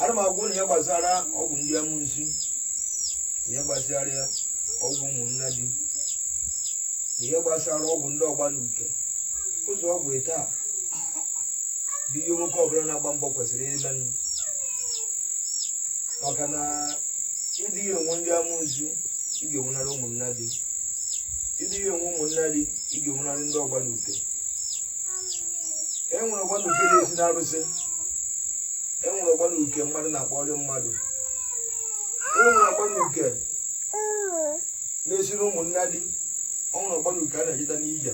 ana m agwa unu ihe gbasara ọgwụ ndị amusu na ihe gbasara ọgwụ ụmụnna di na ihe gbasara ọgwụ ndị ọgba na uke ụzọ ọgwụ ịtọ a bụ ihe nwoke ọbụla na-agba mbọ kwesịrị ịmenụ maka na ịdị enwe ndị amusu ị ga-enwenarị ụmụnna di ịdị enwe ụmụnna di ị ga-enwenarị ndị ọgba na uke e nwere ọgba na uke na-esi n'arụsị e nwere ọgba na uke mmadụ na-akpọrọ mmadụ e nwere ọgba na uke na-esi n'ụmụnna di e nwere ọgba na uke a na-ejeta n'ije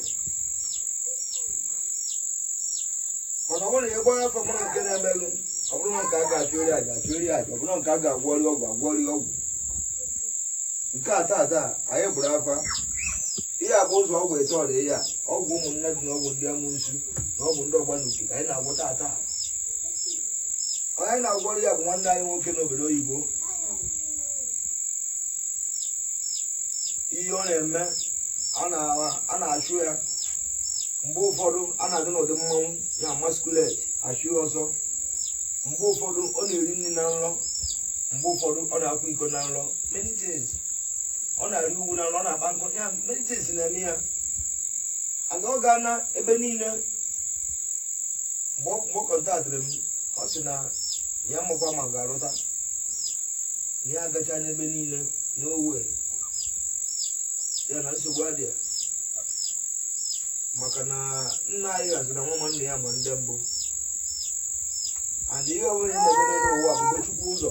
mana ọ bụrụ na ị gbaa afa mara nke na-emelụ ọ bụrụ na nke a ga-achụrụ ya aja achụọrọ ya aja ọ bụrụ na nke a ga-agwọrọ ya ọgwụ agwọọrọ ya ọgwụ nke a taa taa anyị gbara afa ihe a bụ ụzọ ọgwụ ịtọ dị ihe a ọgwụ ụmụnna di na ọgwụ ndị amusu na ọgwụ ndị ọgba n'uke ka anyị na-agwọ taata onye anyị na-agwọrọ ya bụ nwanne anyị nwoke n'obodo oyibo ihe ọ na-eme a na- a na-achụ ya mgbe ụfọdụ a na-adị n'ụdị mmanwụ ya masquerade achụ ya ọsọ mgbe ụfọdụ ọ na-eri nri na nrọ mgbe ụfọdụ ọ na-akwa iko na nrọ many things ọ na-arị ugwu na nrọ ọ na-akpa nkụ ya many things na-eme ya and ọ gaana ebe niile mgbe ọ- mgbe ọ kọntaktịrị m ọ sị na ya amakwa ma ọ ga-arụta na ya agachaana ebe niile m gwa ya na nsogbu adị ya maka na nna anyị haziri na nwa nwanne ya ma ndị mbụ and ihe ọbụla ị na-eme n'elu ụwa bụ mgbe chukwu ụzọ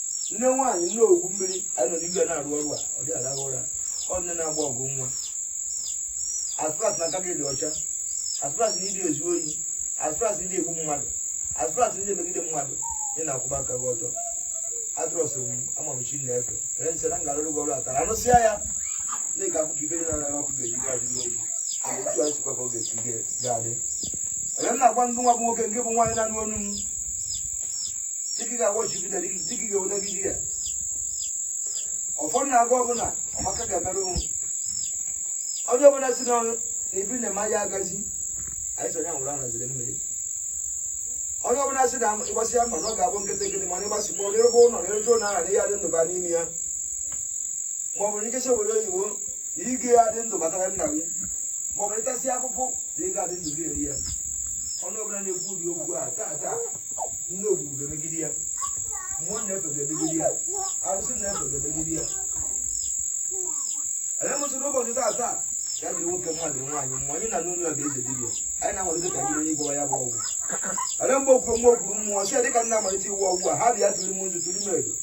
nne nwaanyị nne ogwu mmiri anyị nọ n'igwe na-arụ ọrụ a ọ dị alahụ ụra ọ nne na-agba ọgụ nwa as far as na aka gị dị ọcha as far as na ịdị ezu ohi as far as na ịdị egbu mmadụ as far as na ịdị emegide mmadụ na ị na-akwụba aka gị ọtọ I trust m ama m chi m na-efe ere nsị na m ga-alụrụ gị ọrụ atara anụsịa ya ndị ka akụkọ ibe na anaghị ọkụ ga-eji gaji n'obi otu a sikwa ka ọ ga-esi ga-adị onye m na-agwa ndị nwa bụ nwoke nke bụ nwaanyị na-anụ ọnụ m dịgịga wọchibida dịgịga odagidi ya ụfọdụ na-agụ ọbụla ọmaka ga-emere onwe onye ọbụla sị na ife ị na-eme ya agazi anyị sọ ya nwụrụ anaziri mmiri onye ọbụla sị na ị gbasịa mbọ na ọ ga-abụ nkịtị nkịtị mana ịgbasi kpọọ n'ebe ụlọ na ebe ụlọ ahụ ya adị ndụ ba n'ime ya ma ọ bụ na ị jesịa obodo oyibo na ị ga-adị ndụ bata ala nna gị ma ọ bụ ị tasịa afụfụ na ị ga-adị ndụ gị erie ya ọnụ ọbụla na-ekwu ụdị okwu a taa taa nne ogbugbu ga-emegide ya mmụọ na-efe ga-emegide ya arụsị na-efe ga-emegide ya anyị mụsịrị ụbọchị taa taa ya dịrị nwoke mma dịrị nwaanyị mma onye nọ n'ụlọ ya ga-eze dibịa anyị na-amalite ka biri onye gwara ya bụ ọgwụ ale mgbe okwu nwa okwuru mmụọ si dịka m na-amalite ịgwọ ọgwụ a ha bịa tụrụ m nzu tụrụ m edo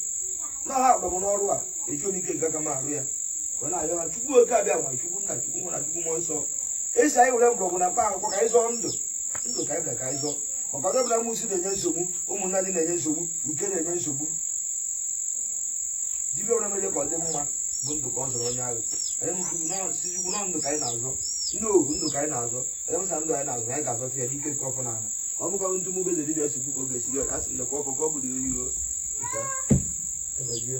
na ha akpọrọ m n'ọrụ a ejirọ m ike nke aka m arụ ya ka ọ na-ayọ ha chukwu oke abịama chukwu nna chukwu nwa na chukwu mmụọ nsọ a sị anyị were mgbọrọgwụ na mkpa akwụkwọ ka anyị zọọ ndụ ndụ ka anyị bịara ka anyị zọọ maka onye ọbụla amusu na-enye nsogbu ụmụnnadị na-enye nsogbu uke na-enye nsogbu dibịa ọbụla mere ka ọ dị mma bụ ndụ ka ọ zọrọ onye ahụ anyị mụsiri nọ si chukwu na ndụ ka anyị na-azọ ndị ohu ndụ ka anyị na-azọ anyị mụsa ndụ anyị na-azọ anyị ga-azọta ya n'ike nke ọfọ na ala ọ bụkwa etu mụ bụ eze dibịa si kwuo ka ọ ga-esi re ọka sị na ka ọfọ ka ọ bụrụ ya oyibo Nta, emezie.